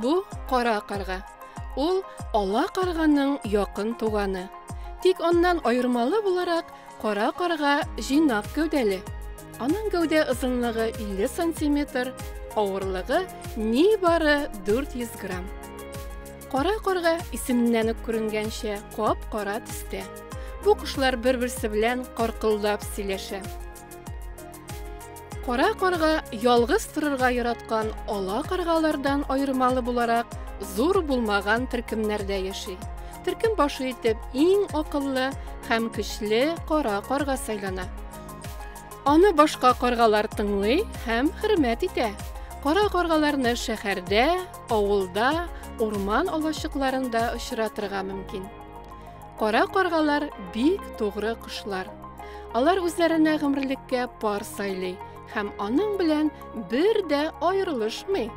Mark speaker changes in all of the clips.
Speaker 1: Бу кара карга. Ул ала карганың якын туганы. Тик аннан аермалы буларак кара карга җыйнак гәүдәле. Аның гәүдә озынлыгы 50 сантиметр, авырлыгы нибары 400 грамм. Кара карга исеменнән үк күренгәнчә кап-кара төстә. Бу кошлар бер-берсе белән каркылдап сөйләшә. Кара карга ялгыз торырга яраткан ала каргалардан аермалы буларак зур булмаган төркемнәрдә яши. Төркем башы итеп иң акыллы һәм көчле кара карга сайлана. Аны башка каргалар тыңлый һәм хөрмәт итә. Кара каргаларны шәһәрдә, Авылда, урман алачыкларында очратырга мөмкин. Кара каргалар бик тугры кошлар. Алар үзләренә гомерлеккә пар сайлый һәм аның белән бер дә аерылышмый.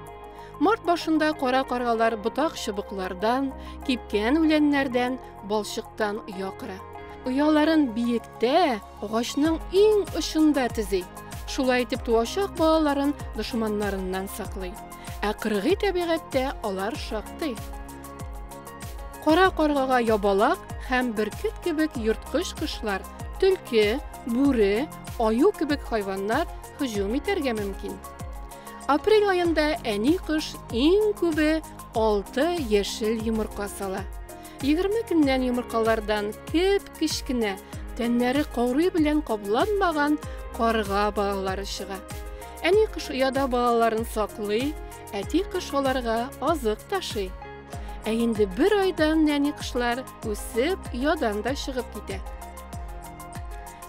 Speaker 1: Март башында кара каргалар ботак чыбыклардан, кипкән үләннәрдән, балчыктан оя кыра. Ояларын биектә, Агачның иң очында төзи. Шулай итеп туачак балаларын дошманнарыннан саклый. Ә кыргый табигатьтә алар шактый. Кара каргага ябалак һәм бөркет кебек йорткыч кошлар, төлке, бүре, аю кебек хайваннар һөҗүм итәргә мөмкин. Апрель аенда әни кош иң күбе 6 яшел йомырка сала. 20 көннән йомыркалардан кеп кечкенә, тәннәре каурый белән капланмаган карга балалары чыга. Әни кыш ояда балаларын саклый, әти кыш аларга азык ташый. Ә инде бер айдан нәни кышлар үсеп, оядан да чыгып китә.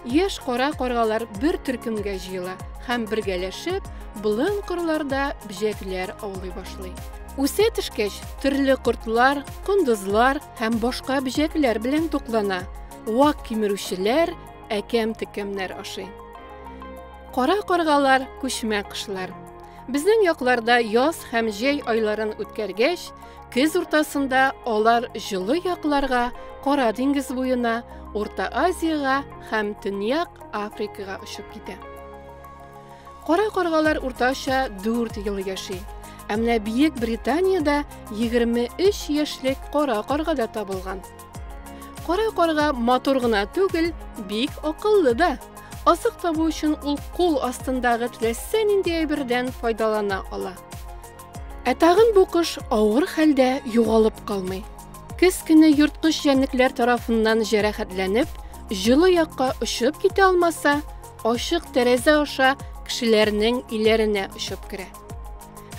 Speaker 1: Яшь кара каргалар бер төркемгә җыела һәм бергәләшеп, болын кырларда бөҗәкләр аулый башлый. Үсә төшкәч, төрле кортлар, кондызлар, һәм башка бөҗәкләр белән туклана, вак кимерүчеләр әкәм-текәмнәр ашый. Кара каргалар күчмә кышлар. Безнең якларда яз һәм җәй айларын үткәргәч, көз уртасында алар җылы якларга, Кара диңгез буена, Урта Азиягә һәм Төньяк Африкага очып китә. Кара каргалар уртача 4 ел яши. Ә менә Бөек Британиядә 23 яшьлек кара карга да табылган. Кара карга матур гына түгел, бик акыллы да. Азык табу өчен ул кул астындагы теләсә нинди әйбердән файдалана ала. Ә тагын бу кош авыр хәлдә югалып калмый. Көз көне ерткыч җәнлекләр тарафыннан җәрәхәтләнеп, җылы якка очып китә алмаса, ачык тәрәзә аша кешеләрнең өйләренә очып керә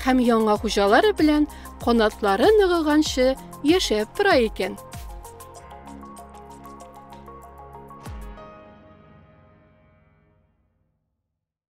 Speaker 1: һәм яңа хуҗалары белән канатлары ныгыганчы яшәп тора икән.